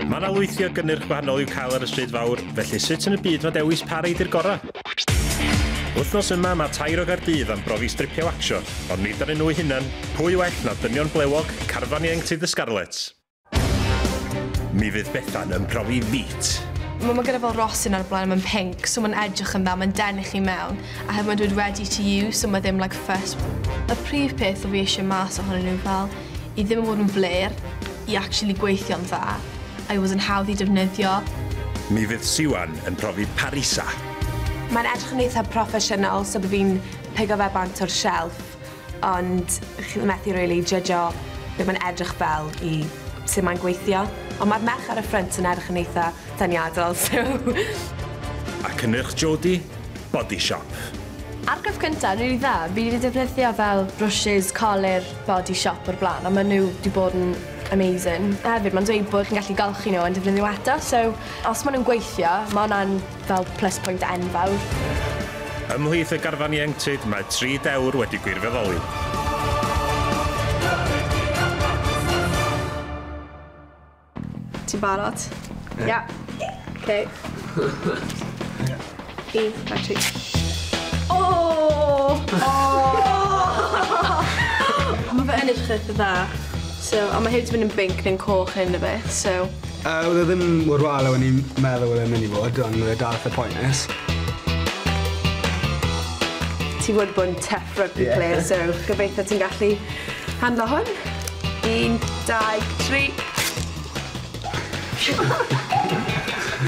Mae yna lwythi o gynnyrch gwahanol i'w cael ar y stryd fawr, felly sut yn y byd mae dewis pa rei di'r gorau? Wythnos yma mae tair o Gaerdydd am brofi stripio watsio, ond nid arnyn nhw'u hunan, pwy well na dynion blewog, carfan ieuenctid y Scarlets? Mi fydd Bethan yn profi feet. Mae ma gyda fel rosyn ar y blaen a mae'n pinc, so mae'n edrych yn dda, mae'n denu chi mewn. a hefyd mae'n dweud ready to use so mae ddim like first y prif peth o fi eisiau mas ohonyn nhw fel i ddim yn bod yn flêr i actually gweithio'n dda a i fod yn hawdd i defnyddio. Mi fydd Siwan yn profi Parisa. Mae'n edrych yn eitha proffesiynol so by fi'n pigo fe bant o'r shelf. Ond chi methu rili jydjo be mae'n edrych fel i sut mae'n gweithio. Ond mae'r merch ar y ffrynt yn edrych yn eitha deniadol, so... A cynnyrch Jodi? Body Shop. Argraff cynta, rili dda. Fi wedi defnyddio fel brwshys colur Body Shop o'r blaen a ma' nhw 'di bod yn amazing. A hefyd ma'n dweud bod chi'n gallu golchi nhw a defnyddio eto so os ma' nhw'n gweithio ma' wnna'n fel plus point enfawr. Ymhlith y garfan ieuenctid mae tri dewr wedi gwirfoddoli. Ti'n barod? Ie. Yeah. Okay. Un, dau, tri. O! O! Mae fe yn edrych eitha dda. So, a mae hefyd yn mynd yn binc neu'n coch hyn a beth, so... Yy oedd e ddim mor wael a o'n i'n meddwl oedd e'n mynd i fod ond oedd e dal itha poenus. Ti fod bod yn tough rugby player so gobeithio ti'n gallu handlo hwn. Un, dau, tri.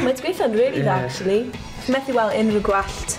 Mae 'di gweithio'n rili dda actually. Methu weld unrhyw gwallt.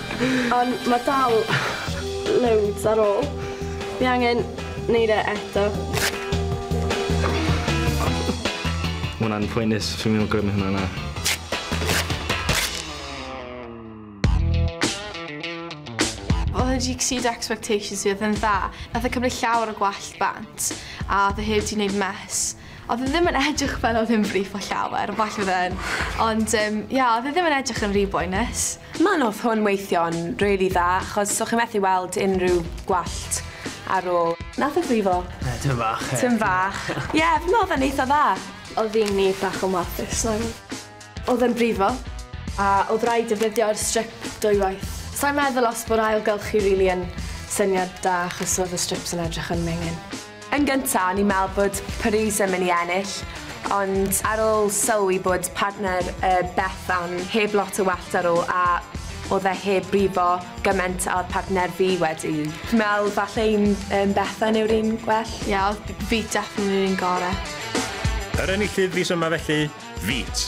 Ond mae dal loads ar ôl. Fi angen neud e eto. Mae hwnna'n phoenus, fi'n mynd i grymu hwnna na. Oedd e di exceed expectations fi, oedd e'n dda. Nath e cymryd llawer o gwallt bant, a oedd e heb di neud mess. Odd e ddim yn edrych fel odd e'n brifo llawer, falle odd e'n, ond yym ia odd e ddim yn edrych yn rhy boenus. Ma' noth hwn weithio'n rili dda achos so chi methu weld unrhyw gwallt ar ôl. Nath e frifo? Yy tym fach ie. Tym fach. Ie f- na odd e'n eitha dda. Odd un ni bach yn warthus nag odd? Odd e'n brifo. A odd raid defnyddio'r strip dwywaith. Sai'n meddwl os bo'r ailgylch chi rili yn syniad da achos odd y strips yn edrych yn menyn. Yn gynta, o'n i'n meddwl bod Paris yn mynd i ennill, ond ar ôl sylwi bod partner yy Bethan heb lot o wellt ar ôl a o'dd e heb brifo gyment a o'dd partner fi wedi, fi'n meddwl falle un yym Bethan yw'r un gwell. Ie, o'dd b- Veet definitely yr un gore. Yr enillydd fis yma felly, Veet!